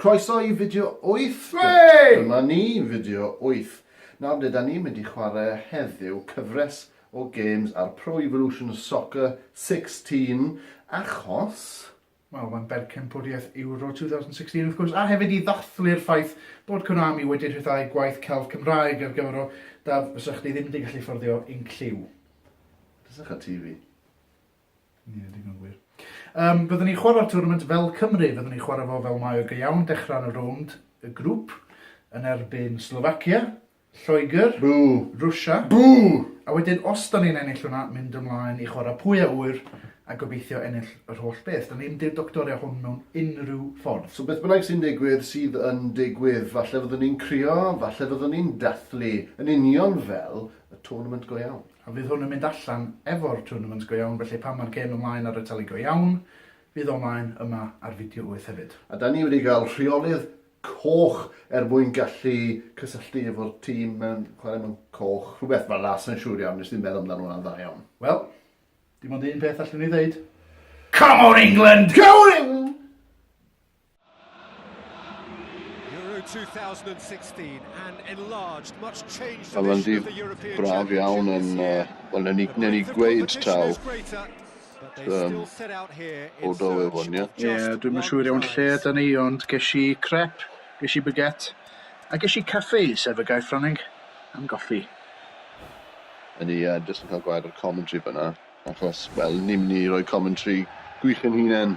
Croeso i fideo 8! Hwrei! Dyma ni, fideo 8. Nawr ble 'da ni'n mynd i chwarae heddiw? Cyfres o gêms ar Pro Evolution Soccer 16 achos Wel, mae'n berchenpwriaeth Euro 2016 wrth gwrs, a hefyd i ddathlu'r ffaith bod Konami wedi rhyddhau gwaith celf Cymraeg ar gyfer o daf fysa chdi ddim wedi gallu fforddio yn cliw. Pysach a TV. Ie, digon gwir. Um, byddwn ni'n chwarae'r tournament fel Cymru, byddwn ni'n chwarae fo fel mae o go iawn, dechrau yn y rownd y grŵp yn erbyn Slovakia, Lloegr. Bŵ! Rwsia. Bŵ! A wedyn os 'da ni'n ennill hwnna, mynd ymlaen i chwarae pwy a ŵyr a gobeithio ennill yr holl beth. 'Da ni'm 'di'r doctoria hwn mewn unrhyw ffordd. So beth bynnag sy'n digwydd, sydd yn digwydd. Falle fyddwn ni'n crio, falle fyddwn ni'n dathlu, yn union fel y tournament go iawn. A fydd hwn yn mynd allan efo'r tournament go iawn, felly pan mae'r gêm ymlaen ar y teli go iawn, fydd o ymlaen yma ar Video Wyth hefyd. A 'da ni wedi cael rheolydd coch er mwyn gallu cysylltu efo'r tîm mewn chwarae mewn coch, rhywbeth fel 'na, sai'n siŵr iawn, nes ddim meddwl amdano hwnna'n dda iawn. Wel, dim ond un peth allwn ni ddeud. Come on England! Come on England! Euro 2016 and enlarged much change to the European Championship. Braf iawn yn uh, wel newn ni newn ni gweud taw Yym, o do we wan, ie? Ie, dwi'm yn siŵr iawn lle yda ni, ond ges i crep, ges i baguette, a ges i caffi, sef y gair Ffrangeg am goffi. Yn i, uh, jyst yn cael gwaed o'r commentary fyna, achos, wel, ni'n mynd i roi commentary gwych yn hunain.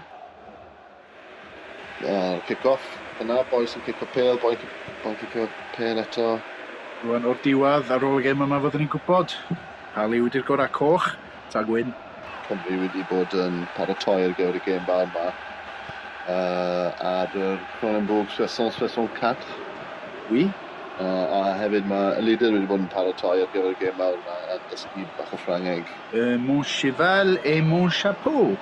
A'r cic-off yna, bois yn cico pêl, bois yn cicio pêl eto. Rwan o'r diwedd, ar ôl y gêm yma fyddwn ni'n gwybod pa liw ydy'r gorau, coch ta gwyn. Cymru wedi bod yn paratoi ar gyfer y gêm fawr yma uh, ar y Cronenbourg 664. Oui. Uh, a hefyd mae y leader wedi bod yn paratoi ar gyfer y gêm mawr yma yn dysgu bach o Ffrangeg. Uh, mon cheval et mon chapeau.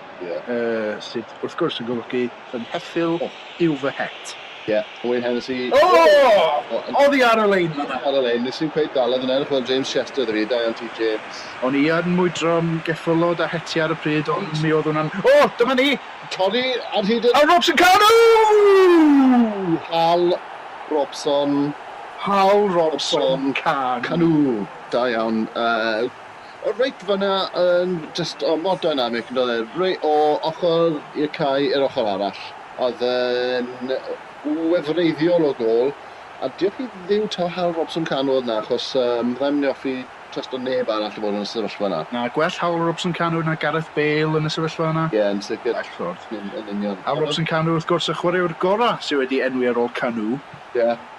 sydd wrth gwrs yn golygu fy ngheffyl yw fy het. Ie, Owain Hennessey. O! Oddi ar y lein fan'na. Ar y lein, nes i'm cweit dal e, fi'n edrych fel James Chester 'da fi, da iawn ti James. O'n i yn mwydro'n geffylod a hetiau ar y pryd ond mi oedd hwnna'n, o! Dyma ni! Torri ar hyd y... A Robson Kanu! Hal Robson. Hal Robson Kanu. Kanu, da iawn. O reit fan'na yn jyst o mor dynamic yndoedd e? Rei- o ochr i'r cae i'r ochr arall. Oedd yn wefreiddiol o gôl a diolch i Dduw taw Hal Robson Kanu oedd 'na achos yym fyddai'm yn hoffi trysto neb arall i fod yn y sefyllfa 'na. Na, gwell Hal Robson Kanu na Gareth Bale yn y sefyllfa yna. Ie, yn sicr. Bell ffordd. Yn union. Hal Robson Kanu wrth gwrs y chwaraewr gorau sydd wedi enwi ar ôl Kanu. Ie.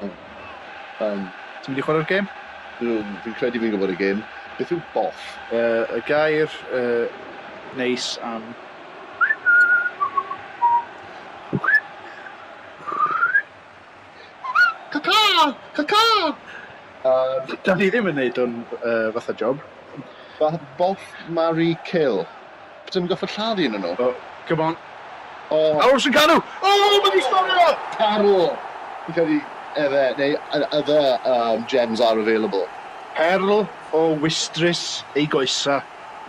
Oh. Um. Ti'n mynd i chwarae'r gêm? Dw, fi'n credu fi'n gwybod y gêm. Beth yw boff? Uh, y gair uh, neis am... Caca! Caca! Um, da ni ddim yn neud o'n uh, fatha job. Boff, marry, kill. Dwi'm yn gorfod lladd un o nhw. O, come on. O! Aros yn canu! O! Mae di storio! Perl! Fi'n credu efe, neu other erm gems are available. Perl o wistrus ei goesa.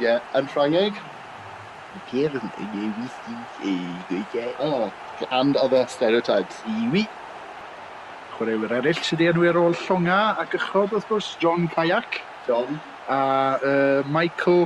Ie, yn Ffrangeg? Perl o wistrus ei goesa. O, and other stereotypes. Iwi. Chwaraewyr eraill sydd 'di enwi ar ôl llongau a gychod wrth gwrs, John Kayak. John. A yy Michael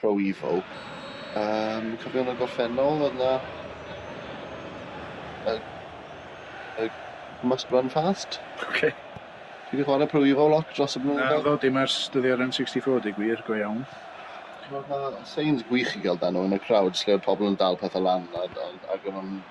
Pro Evo. Yym cofio yn y gorffennol oedd 'na y y Must Run Fast. Ocê. Ti 'di chware Pro Evo lot dros y blynyddoedd? Naddo dim ers dyddiau'r N64 deu gwir, go iawn. T'mod ma' signs gwych i ga'l dan nhw yn y crowds lle o'dd pobol yn dal pethe lan a d- ond ag o'n nw'n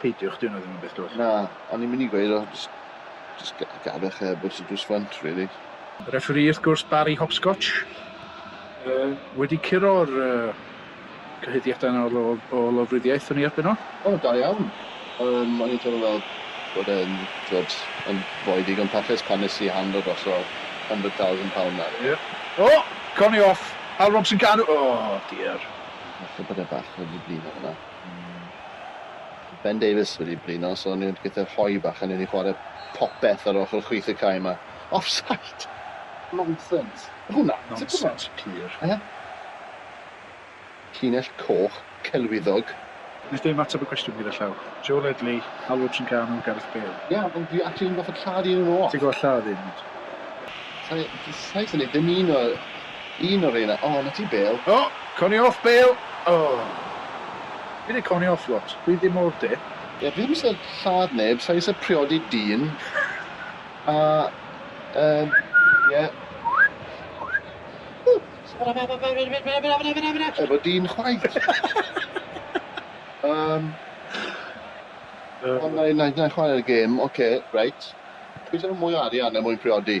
Peidiwch, dyw hwnna ddim yn beth dwys. Na, o'n i'n mynd i gweud o, jyst, jyst gadwch e, but it was fun to really. Referee wrth gwrs Barry Hopscotch yy wedi curo'r yy cyhuddiadau yna o o lofruddiaeth yn ei erbyn o. O, da iawn. Yym, o'n i'n teimlo fel bod e'n, t'wod, yn fwy digon parchus pan nes i handlo drosodd hundred thousand pound na. Ie. O! Corney off! Al Robson Kanu! O, diar. Falle bod e bach yn flino fynna. Mae Ben Davies wedi blino, so ni wedi gyda rhoi bach yn ei chwarae popeth ar ochr chwith y cae yma. Offside! Nonsense. Hwna, nonsense pur. Eh? Llinell coch, celwyddog. Wnes dim ateb y cwestiwn gyda llaw. Joe Ledley, Alwad Trincano, Gareth Bale. Ie, yeah, ond dwi actually yn gorfod lladd un yn ôl. Ti'n gorfod lladd un? Sai, sai, sai, ni ddim un o... Un o reina. O, 'na ti bêl. O! Coni off bêl! O! Fi 'di coni off lot. Dwi ddim o'r de. Ie, fi ddim eisiau lladd neb, sa i eisiau priodi dyn. A, yym, ie. Efo dyn chwaith. Yym, ond na i chwarae'r gêm. Ocê, reit. Pwy sy efo mwy o arian er mwyn priodi?